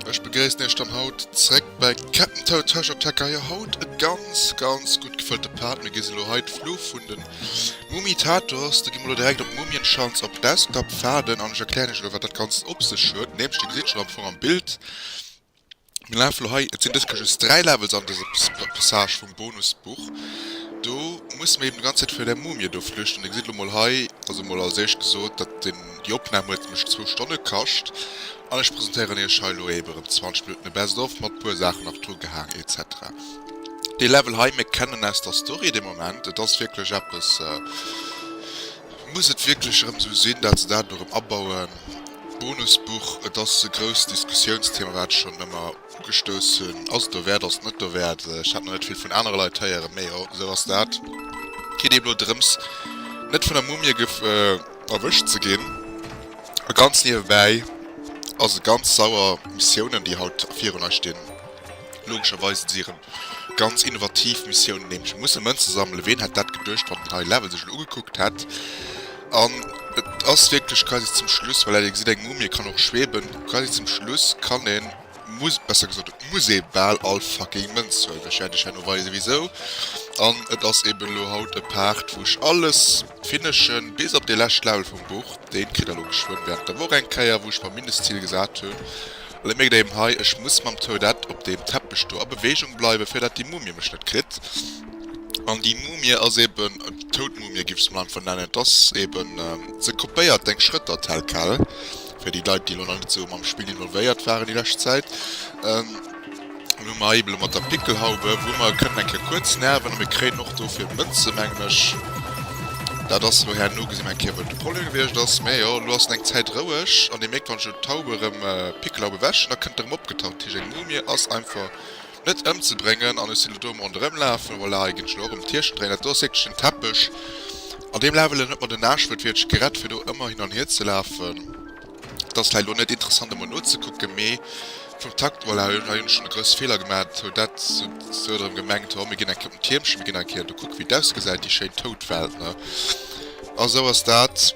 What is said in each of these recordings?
Ech begréissen Iech dann haut zréck bei Captain Toad Treasure op Tekka. Jo, haut e ganz, ganz gutt gefëllte Part. Mir gi se elo hei d'Fluch vun den Mumitators. Da gi mer elo direkt op Mumienschanz op Desktop faarden an ech erklären Iech elo, wat dat Ganzt op sech huet. Nämlech, Dir gesitt schonn am Fong am Bild, Mir lafe lo hei, et sinn dëskesch just 3 Levels an dëse Passage vum Bonusbuch. Do musse mir eben d'ganz Zäit virun där Mumie do flüchten. Dir gesitt lo mol hei, also mol als éischt gesot, dat den, déi Opnam huet mech zwou Stonne kascht. An ech presentéieren iech hei lo eben erëm 20 Minutten e Best of mat puer Saachen nach drugehaang etc. Dee Level hei, mir kennen aus der Story dee Moment, et ass wierklech eppes, muss et wierklech erëm esou sinn, dat se dat elo erëm abauen? Bonusbuch, et ass e grousst Diskussiounsthema, wat ech schonn ëmmer ugestouss hunn. Ass et derwäert, ass et net derwäert? Ech hat nach net vill vun anere Leit héieren, mee jo, esou ass dat. Geet eben elo drëms, net vun der Mumie erwëscht ze ginn. A ganz niewebäi ass e ganz sauer, Missiounen, déi haut virun eis stinn, logescherweis, et si erëm Ganz innovativ Missioun nämlech. Mir musse Mënze sammelen. Ween hätt dat geduecht, wann den high level sech elo ugekuckt hätt. An et ass wierklech quasi zum Schluss, voilà, dir gesitt eng Mumie kann och schweben, quasi zum Schluss kann een, muss, besser gesot et muss ee bal all fucking Mënz huelen. Ech wäert iech herno weisen wisou. An et ass eben elo haut e Part wou ech alles finishen, bis op dee lescht Level vum Buch. Deen kritt der elo geschwënn während der Woch eng Kéier, wou ech mer Mindestzil gesat hunn. Well et mierkt een hei, ech muss mam Toadette op deem Teppech do a Beweegung bleiwen, fir datt déi Mumie mech net kritt. An déi Mumie ass eeben, toud Mumie giff ech se mol einfach nennen, et ass eeben, se kopéiert deng Schrëtter tel quel, fir déi Leit, déi elo nach net esou mam Spill involvéiert waren déi lescht Zäit. An hu mer hei eble mat der Pickelhaube, wou mer kënnen eng Kéier kuerz nerven a mir kréien och dofir Mënze, mengen ech. Dat ass elo herno gesi, eng Kéier wou de Pollen gewiescht ass. Mä jo, elo ass en eng Zäit roueg an Dir mierkt, wann ech elo d'Haube erëm, d'Pickelhaube ewech, da kënnt e erëm opgetaucht. Dat heescht, eng Mumie ass einfach net ëmzebréngen. An ech sinn elo do am Ronderëmlafen, voilà, hei ginn ech elo och ëm d'Hierscht dréinen. Dat do ass wierklech en Teppech, an deem laf ech elo net mat en Aascht, wat wierklech gerett, fir do ëmmer hin an hier ze lafen. Et ass vläicht elo net interessant emol nozekucken, mee vum Takt, voilà, hei hunn ech schonn e grousse Feeler gemat, hou dat esou erëm gemengt, oh mir ginn eng Kéier op den Tiermchen, mir ginn eng Kéier do kucke wéi et ausgesäit, déi schéin tout Welt, ne. A sou ass dat,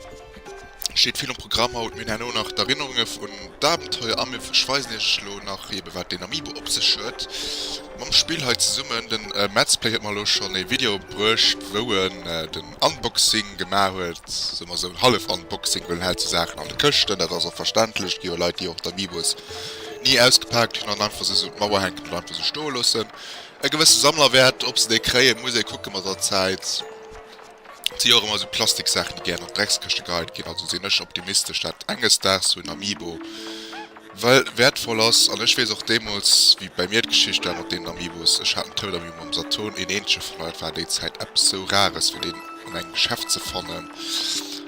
steet vill um Programm haut. Mir hunn herno nach d'Erinnerunge vun d'Abenteuer a ech weisen iech elo nach eebe wat deen Amiibo op sech huet mam Spill hei zesummen. Den Metzplay huet mer elo schonn ee Video bruecht wou en de. Unboxing gemaach huet, soe mer esou en hallef Unboxing, well en hält sou Saachen an de Këschten, dat ass och verständlech. Et gi jo Leit, déi och d'Amiibos ni ausgepaakt hunn an einfach se esou un d'Mauer hänken oder einfach esou stoe loossen. E gewësse Sammlerwäert, ob se déi kréien, muss ee kucke mat der Zäit. Et si jo och ëmmer esou Plastiksaachen, déi gär an d'Dreckskëschte geheit ginn. Also sinn ech optimistesch, dat enges Daags sou en Amiibo Well wäertvoll ass, an ech weess och deemools, wéi bäi mir d'Geschicht war mat deenen Amiibos, ech hat en Toad Amiibo mam Saturn, een eenzege vun all, et war déi Zäit eppes sou Rares fir deen an engem Geschäft ze fannen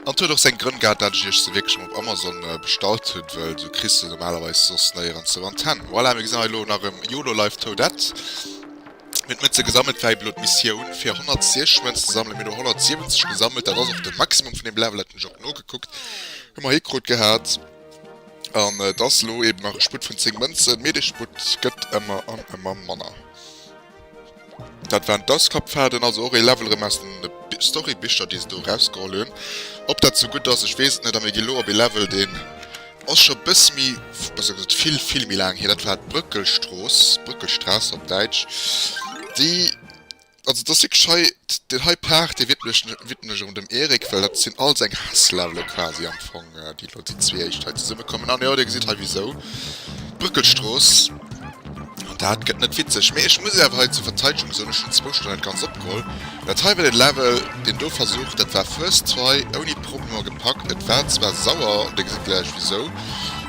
an et huet och seng Grënn gehat, dat ech Iech se wierklech emol op Amazon bestallt hunn, wëll sou kriss de se normalerweis soss néierens sou an d'Hänn. Voilà, mir gesinn hei elo nach e Yolo Life Toadette, mir hunn d'Mënze gesammelt, et war elo d'Missioun fir 106 Mënz ze sammelen, mir hunn elo 170 gesammelt, dat ass och de Maximum vun deem Level, dat hunn ech och nogekuckt, hu mer hikrut gehat. An et ass elo eben nach e Sputt vun 10 Mënzen, mee dee Sputt gëtt ëmmer an ëmmer manner. Dat waren d'Auskappfaarden, also och ee Level rëm aus den Storybicher, déi se do erausgeholl hunn. Ob dat esou gutt ass, ech weess et net. A mir ginn elo op ee Level, deen ass scho e bësse méi, besser gesot vill, vill méi laang hier. Dat war d'Brëckelstrooss, Brückelstraße op Däitsch, déi Also et ass wierklech hei, deen hei Paart, dee widmen ech erëm dem Eric, well dat sinn all seng Hasslevelë quasi am Fong, déi elo déi zwee éischt hei zesummekommen. An jo, Dir gesitt hei wisou. D'Brëckelstrooss. An dat gëtt net witzeg. Mee ech muss awer hei zur Verteidegung soen, ech hunn zwou Stonnen dat Ganzt opgeholl. Dat hei war dee Level, deen do versucht, dat war First Try, ouni Problemer gepackt. Et war zwar sauer, Dir gesitt gläich wisou.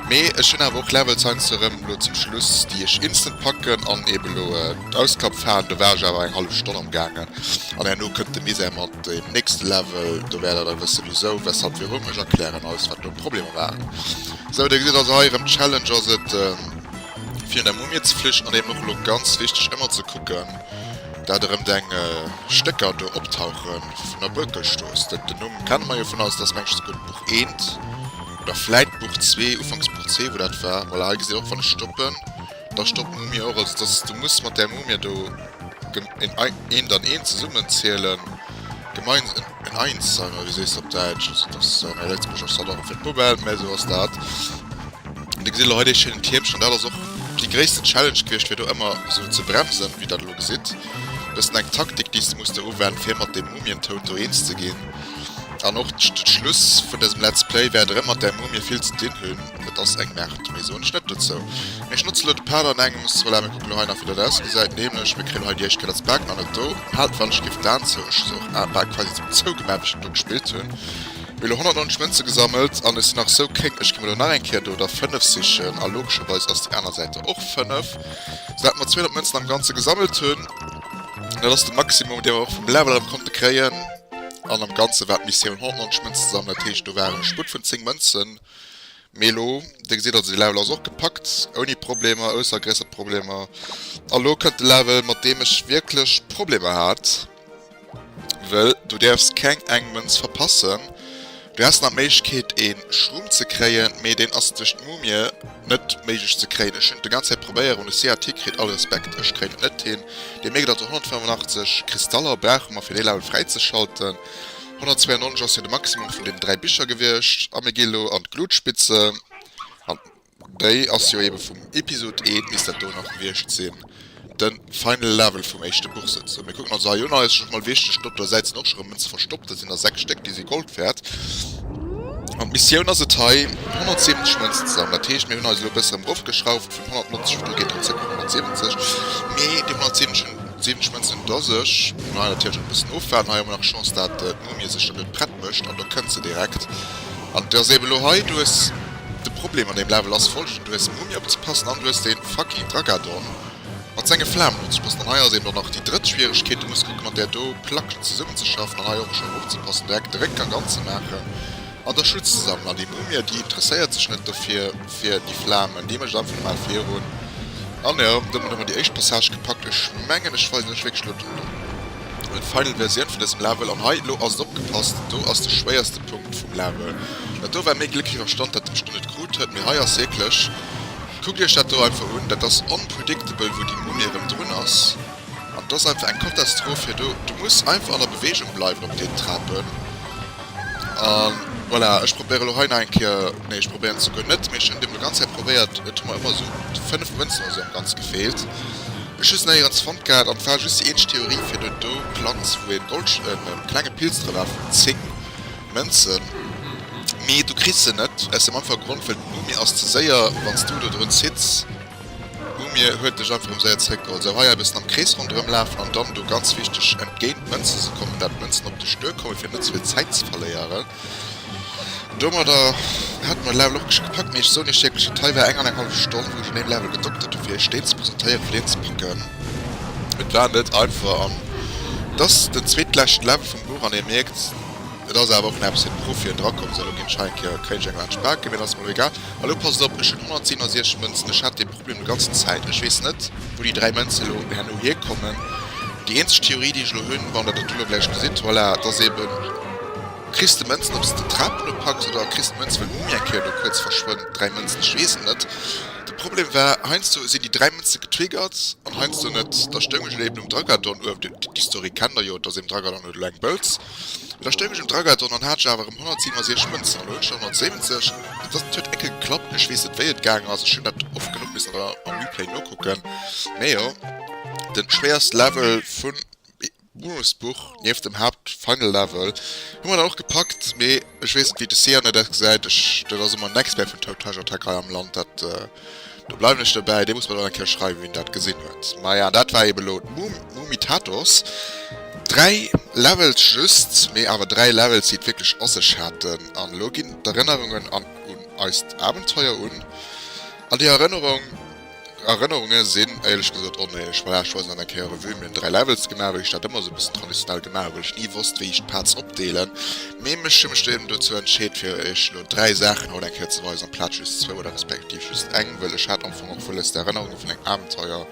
Mee ech hun awer och Levels heiansdo erem elo zum Schluss déi ech instant packen an eben elo d'Auskapf haen. Do war ech awer eng hallef Stonn am gaangen an herno kënnt de Misär mat deem nächste Level. Do wäert der da wëssen wisou, weshalb, wirum. Ech erklären eis wat do d'Problemer waren. Sou der gesitt also hei erem d'Challenge ass et fir un der Mumie ze flichen an eben och elo ganz wichteg emmer ze kucken dat erem deng Stécker do optauchen vun der Buerkelstrooss. Den Numm kenne mer jo vun eis, dass mengs gutt Buch eent. Oder vläit Buch zwee, ufanks Buch zwee, wou dat war. Voilà, hei gesitt och, wann ech stoppen, da stoppt d'Mumie och. Also dass du muss mat där Mumie do en Ei, eent an eent zesummen zielen, gemeins-, en, en Einser, oder wéi sees de op Däitsch? Also dass, mä Lëtzebuergesch ass dat och fir d'Poubelle, mä esou ass dat. An da gesitt elo hei dee schéinen Tiermchen, dat ass och déi gréissten Challenge gewiescht, fir do ëmmer esou ze bremsen, wéi der dat elo gesitt. Bëssen eng Taktik, déi s de muss do uwenden, fir mat deem Mumientout do eens ze ginn. An och den Schluss vun dësem Let's Play wäert erëm mat där Mumie vill ze dinn hunn. Et ass eng Merde, méi soen ech net dozou. Mir schnotze lo de Pad an engems, voilà, mir kucken lo hei nach wéi dat ausgesäit, nämlech mir kréien hei déi éischt Kéier dës Bag nach net do, Pad wann ech géif d'Aen zou, ech sou, Aen bal quasi zou zou gemaach wéi ech dono gespillt hunn. Mir elo 190 Mënze gesammelt an ech sinn nach sou kéng, ech gi mer lo nach eng Kéier do der 5 sichen a logescherweis ass déi aner Säit der och 5, sou dat mer 200 Mënzen am Ganze gesammelt hunn. Dat ass de Maximum dee mer och vum Level erëm konnte kréien. An am Ganzen war d'Missioun 190 Mënzen sammeln, dat heescht do waren e Sputt vun 10 Mënzen. Mee elo, dir gesitt also de Level ass och gepackt ouni Problemer, ausser gréisser Problemer. A lo kënnt de Level mat deem ech wierklech Problemer hat, wëll du däerfs keng eng Mënz verpassen. Du häss nach Méiglechkeet een Schrumm ze kréien, mee deen ass duerch d'Mumie net méiglech ze kréien. Ech hunn et de ganz Zäit probéieren un de CAT kritt all Respekt ech kréien et net hin. Dee Meget also 185 Kristaller brauche mer fir dee Level fräizeschalten. 192 ass jo de Maximum vun deenen 3 Bicher gewiescht a mir gi lo an d'Glutspitze an. Déi ass jo eben vum Episod I, misst dat do nach gewiescht sinn, den final level vum éischte Buch souzesoen. Mir kucken ons hei un, hei ass just mol wichteg, dotto Säiten och schon rem Münzen verstoppt, dat sinn der 6 Stéck, déi si Gold wärt. An d'Missioun ass et hei 170 Münzen ze sammeln, dat heescht mir hunn eis elo e bësse rem roffgeschrauft vun 190 op do geet dann zréck no 170, mee déi 170 Münzen un do sech muss mer hei natierlech och e bëssen ofwaarden. Hei hu mer nach Chance dat d'Mumie sech dann net prett mécht an do kënnt se direkt an et ass eben elo hei, du hues. De Problem an deem Level ass folgenden, Du hues en Mumie opzepassen an du hues den fucking Dragadon mat sengen Flamen opzepassen. An hei ass eben dann nach déi drëtt Schwieregkeet, Du muss kucken mat där do Plack zesummenzeschaffen an hei och scho opzepassen direkt de Réck an ganz ze maachen an da Schutz ze sammelen. An déi Mumie déi interesséiert sech net dofir fir déi Flamen, déi mécht einfach normal virun. An jo, domat hu mer déi éischt Passage gepackt. Ech mengen ech weisen iech wierklech elo den. Huet final Versioun vun dësem Level an hei lo ass et opgepasst do ass de schwéierste Punkt vum Level dat do war méi Gléck wéi Verstand dat ech do net krut huet mee hei ass wierklech kuckt iech dat do einfach un dat ass unpredictable wou déi Mumie erëm drun ass an et ass einfach eng Katastroph fir do du muss einfach an der Beweegung bleiwen op deenen Trapen an voilà ech probéiere lo hei nach eng Kéier nee ech probéieren et souguer net mee ech hunn deem lo ganz Zäit probéiert et hu mer ëmmer esou 5 Mënzen oder esou am Ganze gefeelt. Ech hu se neierdens fonnt gehat an et war just déi eenzeg Theorie fir do do Planz wou een Gold e klenge Pilz dra war vun 10 Mënzen mee du kriss se net aus dem einfache Grond well den Umir ass ze séier wann s du do drun zitts Umir huet dech einfach um séier zréck geholl sou hei e bëssen am Krees ronderëm lafen an dann do ganz wichteg entgéint d'Mënze se kommen dat d'Mënzen op dech duer kommen fir net ze vill Zäit ze verléieren. Domadder haten mer Level och geschéckt gepackt, mee ech soen iech wierklech dat hei war eng an eng hallef Stonn wou ech un deem Level gedockt hat dofir iech deen ze presentéieren fir deen ze packen. Et war net einfach an et ass den zweetleschten Level vum Buch an ee mierkt et ass awer och nach e bëssen Proff wien dra komm sou elo ginn ech hei eng Kéier e Kréidesch eng Laanscht paken mee dat ass mer elo egal. An elo passt op, ech hunn 167 Mënzen, ech hat dee. Problem déi ganzen Zäit. Ech weess net, wou déi dräi Mënze elo herno hierkommen. Déi eenzeg Theorie, déi ech elo hunn, wann Der dat elo gläich gesitt, voilà, et ass eeben. Kriss de Mënzen, ob s de d'Trap eropacks, oder kriss d'Mënz, well d'Mumie eng Kéier elo kuerz verschwënnt? Dräi Mënzen, ech weess et net. De Problem war, heiansdo sinn déi dräi Mënze getriggert an heiansdo net. Da stoung ech elo eeben um Dragadon uewen. D'Historie kennt Der jo, et ass eeben, Dragadon huet elo eng Bourse. Mee da stoung ech um Dragathon an hat ech awer erëm 167 Mënzen, elo hunn ech der 170. Et ass, et huet eckel geklappt, mee ech weess net wéi et gaangen ass, ech hunn dat oft genuch missen an der am Replay nokucken. Mee jo, den schwéierste Level vun Bonusbuch nieft dem Haapt Final Level hu mer dann och gepackt, mee ech weess net wéi de Sianne dat gesäit, ech dat ass ëmmer en Expert vun Toad Treasure Attack hei am Land, dat. Do bleiwen ech dobäi, dee muss mer dann eng Kéier schreiwen, wien dat gesinn huet. Maja, dat war eben elo d'Mumitatos. Dräi Levels just, mee awer dräi Levels, déi et wierklech a sech haten. An elo ginn d'Erënnerungen an un eist Abenteuer un. An déi Erënnerung, Erënnerunge sinn éierlech gesot onéierlech. Maja, ech weisen dann eng Kéier Revue, mir hunn dräi Levels gemaach, wéi ech dat ëmmer esou e bëssen traditionell gemaach hu, well ech ni wosst, wéi ech d'Parts opdeelen. Mee mech hu mech du eben dozou entscheet fir iech lo 3 Saachen haut eng Kéier ze weisen, amplaz just zwou oder respektiv just eng, wëll ech hat am Fong och wëlles d'Erënnerunge vun engem Abenteuer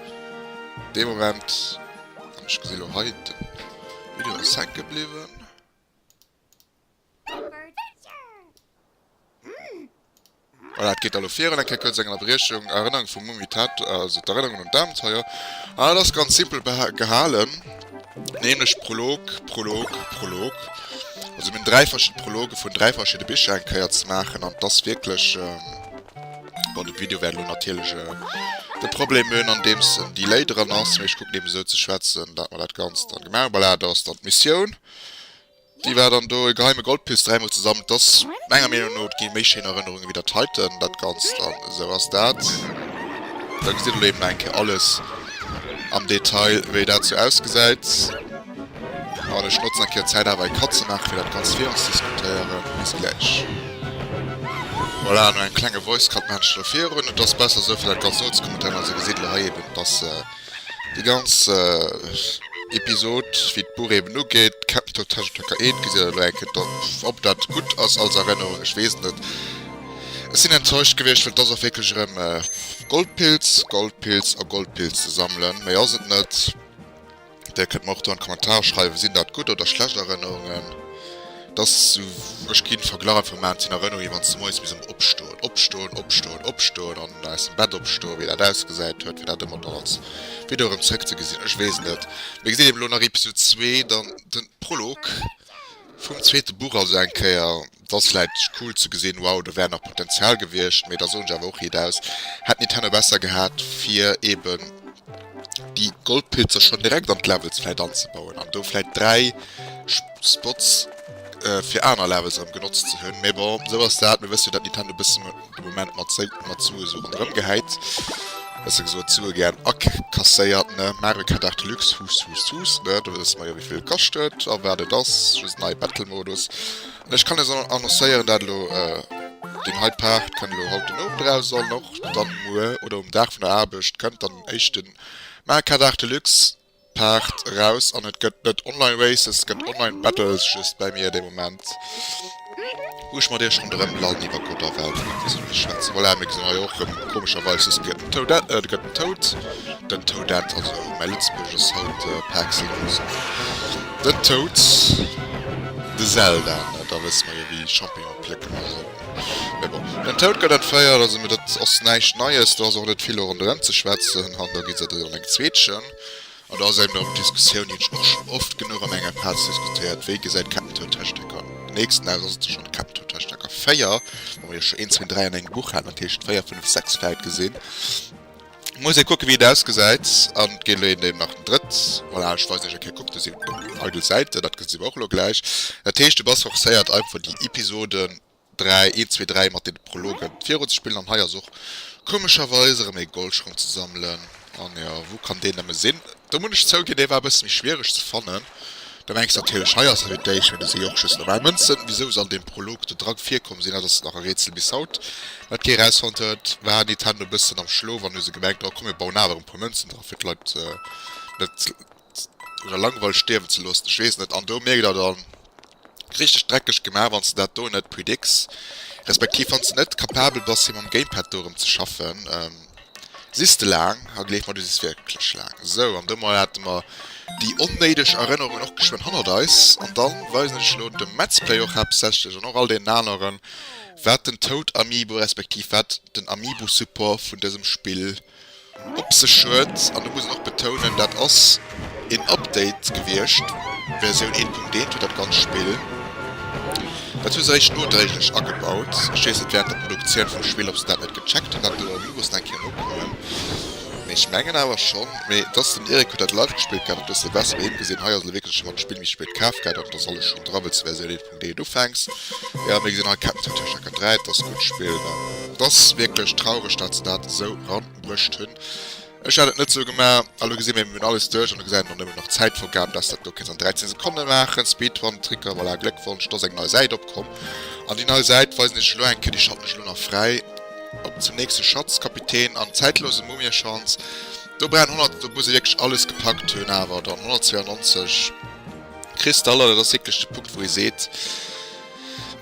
dee Moment, an ech gesi lo hei den Video ass hänke bliwwen. Voilà, et geet elo virun. Eng Kéier kuerz eng Ënnerbriechung. Erënnerung vum Mumie Ted, also d'Erënnerung un d'Abenteuer. An et ass ganz simpel gehalen, nämlech Prolog, Prolog, Prolog. Also mir hunn dräi verschidde Prologe vun dräi verschidde Bicher eng Kéier ze maachen. An et ass wierklech, bon, de Video wäert elo natierlech de Problem hunn, andeems en Delay dran ass, mee ech kucken eben esou ze schwätzen, dat mer dat Ganzt dann gemaach hunn. Voilà, dat ass dann d'Missioun. Déi war dann do, e geheime Goldpiece dräimol zesammelt. Ass menger Meenung no et gi méi schéin Erënnerungen ewéi dat heiten. Dat Ganzt an esou ass dat. Da gesitt elo eben nach eng Kéier alles am Detail ewéi dat sou ausgesäit. An ech notzen eng Kéier d'Zäit awer e Cut ze maachen fir dat Ganzt virunzediskutéieren. Bis gläich. Voilà, no engem klenge Voice Cut maachen ech elo virun. Et ass besser esou fir dat Ganzt nozecommentéieren. Also gesitt elo hei eben dass. Déi ganz Episod, wéi d'Buch eben ugeet, kennt den Totesch Töcker 1, gesitt dat elo eng Kéier drop. Ob dat gutt ass als Erënnerung, ech weess et net. Ech sinn enttäuscht gewiescht, well et ass och wierklech erëm Goldpilz, Goldpilz a Goldpilz ze sammelen. Méi ass et net. Dir kënnt mer och do an d'Kommentare schreiwen, sinn dat gutt oder schlecht Erënnerungen. Dass ech keen Verglach einfach maan zeen Erënnerung je wanns de moies misst emmer opstoen opstoen opstoen opstoen an aus dem Bett opstoen wéi daat ausgesäit huet fir daat emmer dann als Video erem zeréck ze gesin ech wees net mee gesidd eben lo nach Episode 2 dann den Prolog vum zweeten Buch also eng Kéier dass vläit cool ze gesin wow do wär nach Potenzial gewiescht mee da soen ech awer och riit aus hätt Nintendo besser gehaat fir eben déi Goldpilzer schon direkt an d'Levels vläit anzebauen an do vläit 3 Spots fir aner Levels erëm genotzt ze hunn, mee bon, esou ass dat. Mir wësse jo dat Nintendo e bësse de Moment mat mat Sue esou ronderëm gehäit, besser gesot d'Sue gären akasséiert ne. Mario Kart 8 Deluxe, huss huss huss ne, do wësse mer jo wéi vill e kascht huet a wat et ass, just nei Battle Modus. An ech kann lech elo annoncéieren, dat elo deen hei Part kënnt elo haut den Owend eraus an och dann muer oder um Dag vun der Aarbecht kënnt dann den éischten Mario Kart 8 Deluxe. Paart eraus an et gëtt net online races, et gëtt online battles, just bei mir dee Moment wou ech mat iech ronderëm lallen iwwer Gott a Welt an wéi se alles schwätzen. Voilà, mir gesinn hei och rëm komescherweis just gëtt den Toad, et gëtt den Toad, den Toadette, also mäi Lëtzebuergesch ass haut par excellence den Toad, de Zelda, da wësse mer jo wéi Champignonen plécken a sou. Mee bon, den Toud gëtt entféiert, also mir, dat ass näischt Neies. Do ass och net vill ronderëm ze schwätzen. An da gi se ënner eng Zweetchen. An da ass eben erëm d'Diskussioun, déi hunn ech och schonn oft genuch an enger Phas diskutéiert, Wéi gesäit d'Captain Toad Hashtag-Karte? Den nächsten Dag ass et da schonn d'Captain Toad Hashtag-Karte 4, wou mer jo scho een, zwee, dräi an engem Buch haten, dat heescht 4, 5, 6 vläicht gesinn. Muss ee kucken wéi et ausgesäit an et geet elo een deem nach den drëtt. Voilà, ech weisen iech eng Kéier, kuckt do si eidel Säiten, dat gesi mer och elo gläich. Dat heescht de Bass forcéiert einfach déi Episoden 3, 1, 2, 3 mat den Prologen virun ze spillen an hei ass och komescherweis erëm ee Goldschong ze sammelen an jo wou kann deen nëmme sinn? Doe muss ech zouginn dee war e bësse méi schwiereg ze fannen. Da mengs de natierlech, hei ass e wéi d'Eech, mee do si jo och just normal Mënzen. Wisou se an deem Prolog do dra virkomm sinn, dat ass nach e Rätsel bis haut. Wat kee erausfonnt huet, war Nintendo e bëssen am Schlof an hu se gemengt, oh komm mir bauen awer e puer Mënzen dra fir d'Leit net un der Langweil stierwen ze loossen, ech weess et net. An do mierkt der dann, richteg dreckeg gemaach wanns de dat do net predix respektiv wanns de net capabel bass fir mam Gamepad do erëm ze schaffen sis de laang a gleef mer du sis wierklech laang. Sou an domat hate mer déi onnéideg Erënnerungen och geschwënn hannert eis an dann weisen ech elo dem Metzplay och haaptsächlech an och all deenen aneren wat den Toad Amiibo respektiv wat den Amiibo Support vun dësem Spill op sech huet, an do muss een och betounen, dat ass een Update gewiescht, Versioun 1.1 huet dat ganzt Spill, dat hu se eréischt nodréiglech agebaut, ech weess net während der Produktioun vum Spill ob se dat net gecheckt hunn, dat do elo muss nach eng Kéier nokommen, mee ech mengen awer schonn. Mee et ass, den Eric huet dat live gespillt gehat, et hues de besser bei him gesinn, hei ass elo wierklech, ech hunn dat Spill méi spéit kaf gehat an et ass alles schonn dra, wëlls de Versioun 1.1 Ree du fänks jo mir gesinn hei Ketten sinn tëscht der Kette 3 dass gutt spillt an et ass wierklech traureg dat se dat esou ran brëcht hunn ech hat et net sou gema a lo gesi mir mir hunn alles duerch an elo gesäit een nëmmen nach Zäitvorgaben dass dat do kenns an 13 Sekonne maachen Speedrun Tricker voilà Gléckwonsch do ass eng nei Säit opkomm an déi nei Säit weisen iech elo eng Kéier déi Schatten ech elo nach fräi op zum nächste Schatzkapitän an zäitlose Mumiechance do brauch een 100 do muss ee wierklech alles gepackt hunn awer dann 192. Kristaller, dat ass wierklech de Punkt wou ee seet,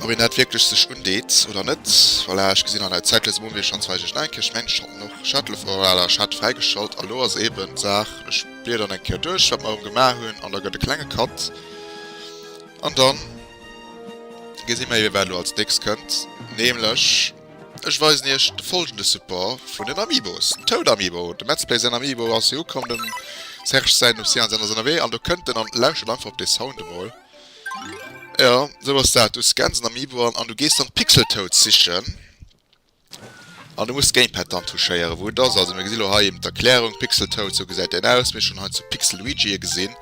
ob een dat wierklech sech undeet oder net. Voilà, ech gesinn an der Zäit léisen mer un, wéi ech schonns weis, ech denken, ech mengen ech haten och Shuttle, voilà, ech hat et fräigeschalt an elo ass eben d'Saach, ech bliederen eng Kéier duerch wat mer erëm gemaach hunn an da gëtt e klenge Cut an dann gesi mer eben wat elo als nächst kënnt, nämlech. Ech weisen iech de folgende Support vun den Amiibos, den Toad Amiibo, dem Madsplay säin Amiibo ass jo ukomm, dem Serge säin, dem Sian säin ass ënnerwee an do kënnt en an lauschtert einfach op dee Sound emol. Jo, esou ass dat, du scans en Amiibo an an du gees dann d'Pixeltoads sichen an du muss d'Gamepad dann touchéieren, wou et ass. Also mir gesi lo hei eben d'Erklärung, Pixeltoad, esou gesäit deen aus, mir hu schonn hei zu Pixelluigi e gesinn.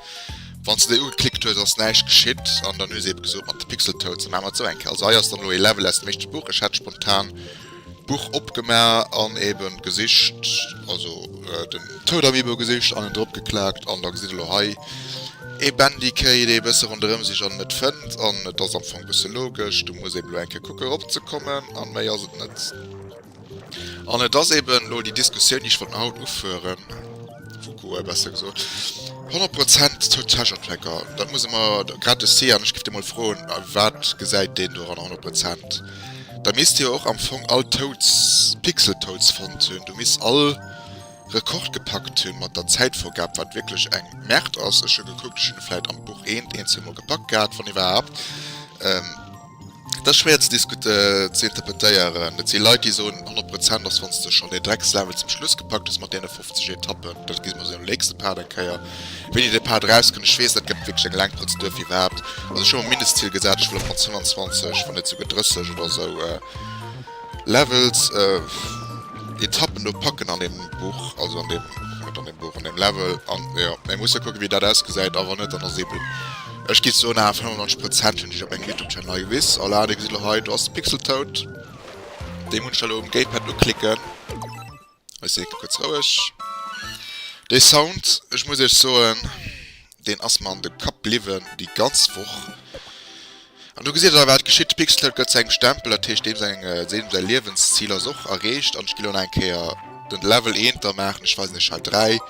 Wann se déi ugeklickt hues ass näischt geschitt an dann hu se ebe gesot mat de Pixeltoad se maache mat esou enk. Also hei ass dann elo ee Level aus dem éischte Buch. Ech hat spontan d'Buch opgemaach an ebe gesicht, also den Toad Amiibo gesicht an en drop geklaakt an da gesitt elo hei ee Bandicay dee e bësse ronderëm sicht an en net fënnt. An et ass am Fong e bësse logesch, du muss ebe elo eng Kéier kucken erop ze kommen an méi ass et net. An et ass eben elo déi Diskussioun, déi ech wollt nach haut uführen, Fukuoa besser gesot, 100 Prozent zur Täschentrecker, dat muss e mer grad de Sian, ech giff dee mol froen, wat gesäit deen doranner 100 Prozent? Da misst jo och am Fong all Toads, Pixel Toads fonnt hunn, do misst all Rekord gepackt hunn mat der Zäitvorgab, wat wierklech eng Merde ass. Ech hu gekuckt, ech hunn e vläit am Buch eent, een, zweemol gepackt gehat, wann iwwerhaapt. Dat schwéier ze interpretéieren. Et si Leit déi soen 100 Prozent ass wanns de schonn dee Dreckslevel zum Schluss gepackt hues mat deene 50 Etappen. Dat gesi mer esou am nächste Part eng Kéier. Wéini dee Part erauskënnt, ech weess dat gëtt wierklech eng laang Prozedur fir iwwerhaapt. Also ech hu mer Mindestzil gesat, ech wëll op mat 25, wann net esouguer 30 oder esou Levels, Etappen do packen an deem Buch, also an deem, net an deem Buch, an deem Level. An jo, mä mir musse kucke wéi dat ausgesäit a wann net dann ass ee Bum. Ech gi soen awer 95 Prozent hunn sech op engem Youtube Channel agewis. Hola dir gesitt elo hei do ass de Pixel tout. Deem hunn ech da elo um Gamepad uklicken. Ech si kuerz roueg. Dee Sound, ech muss iech soen, deen ass mer an de Kapp bliwwen déi ganz Woch. An do gesitt der wat geschitt, de Pixel tout gëtt zu engem Stempel, dat heescht deem seng deem säi Liewensziel ass och erreecht. An ech gi elo nach eng Kéier den Level eent da maachen, ech weisen iech hei 3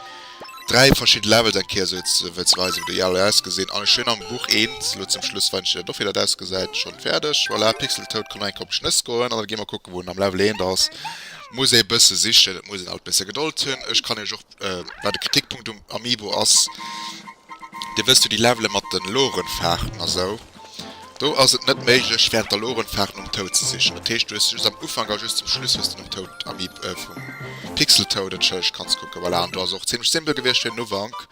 3 verschidden Levels eng Kéier esou jetzt ze wëlls weisen wou déi jehall ausgesinn an ech hun am Buch eent lo zum Schluss wann ech dir dat offi dat ausgesäit schon färdeg voilà Pixeltoad kann enke op Schnëss goen an da gi mer kucken wou en am Level eent ass muss ee bësse sichen et muss een alt bësse Gedold hunn ech kann iech och wat e Kritikpunkt um Amiibo ass dir wësst jo déi Levele mat den Lorenfaarten a sou. Do ass et net méiglech während der Lorenfaart nom Toad ze sichen. Dat heescht du hues just am Ufank a just zum Schluss hues de nom Toad Amiib vum Pixel Toad et Schëlleg kanns kucken. Voilà an do ass och zimlech simpel gewiescht fir den Ufank.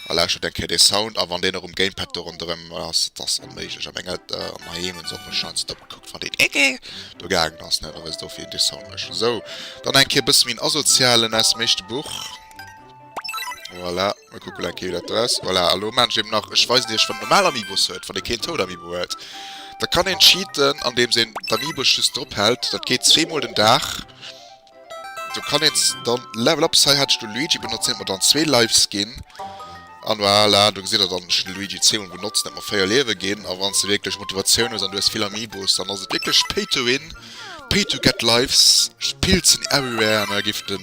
A lauschtert eng Kéier dee Sound a wann deen och um Gamepad do ronderëm ass. Et ass onméiglech am enge an heem hunn se och mech scheinst op gekuckt wann deen Ege do gaangen ass net a wësst do fir een dee Sound mécht. Sou dann eng Kéier bësse méi en asozialen aus dem éischte Buch. Voilà, mir kucken eng Kéier wéi dat do aus. Voilà, a lo maan ech eben nach, ech weisen iech wann een normal Amiibos huet, wann ee keen Toad Amiibo huet. Da kann een cheaten andeems een d'Amiibos just drop hält, dat geet zwee mol den Dag. Do kann een dann Level Ups, hei hat ech de Luigi benotzt, hien huet mer dann zwee Lives ginn. An voilà, do gesitt der dann, ech hunn de Luigi zwee mol benotzt, en huet mer véier Liewe ginn. A wann s de wierklech Motivatioun hues an du hues vill Amiibos, dann ass et wierklech Pay to win. Pay to get lives pills in everywhere an da giff den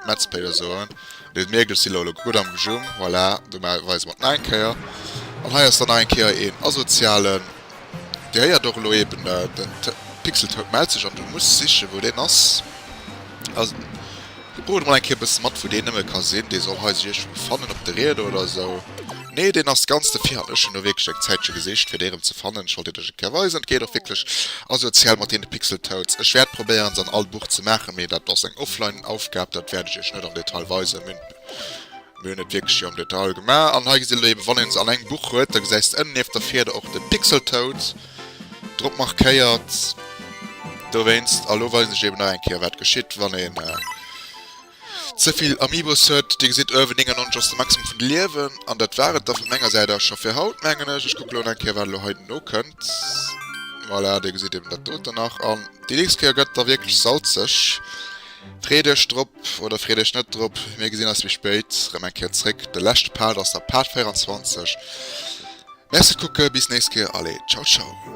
Meds Player soen den mierkt ech si lo lo gudd am Gejung voilà do weise mer et nach eng Kéier an hei ass dann nach eng Kéier een asozialen dir héiert och elo eben den Pixeltoad mellt sech an du muss sichen wou deen ass. Kuckt mol eng Kéier bësse mat wou deen nëmme ka sinn, dee soll hei sech iergendwou fannen op de Rieder oder esou. Nee deen ass ganz de Virhand, ech hunn elo wierklech eng Zäitche gesicht fir dee rëm ze fannen, ech wollt deen lech eng Kéier weisen, et geet och wierklech asozial mat deene Pixel Toads. Ech wäert probéieren se an all Buch ze maachen, mee dat ass eng offline Aufgab, dat wäert ech iech net am Detail weisen, mir hunn et wierklech jo am Detail gemaach. An hei gesitt der elo eeben, wann een se an engem Buch huet, da gesäis de ënnen nieft der Fieder och de Pixel Toad. drop markéiert dowéinst. A lo weisen ech eben nach eng Kéier wat geschitt wann een zevill Amiibos huet. Dir gesitt uewen 99 ass de Maximum vun de Liewen an dat war et da vu menger Säit aus scho fir haut mengen ech. Ech kucke lo nach eng Kéier wat elo hei nokënnt. Voilà, dir gesitt eben dat doten nach an déi nächst Kéier gëtt et da wierklech salzeg. Freet iech drop oder freet iech net drop. Mir gesinn eis méi spéit rëm eng Kéier zréck. De leschte Part ass da Part 24. Merci kucke bis nächst Kéier allez ciao ciao.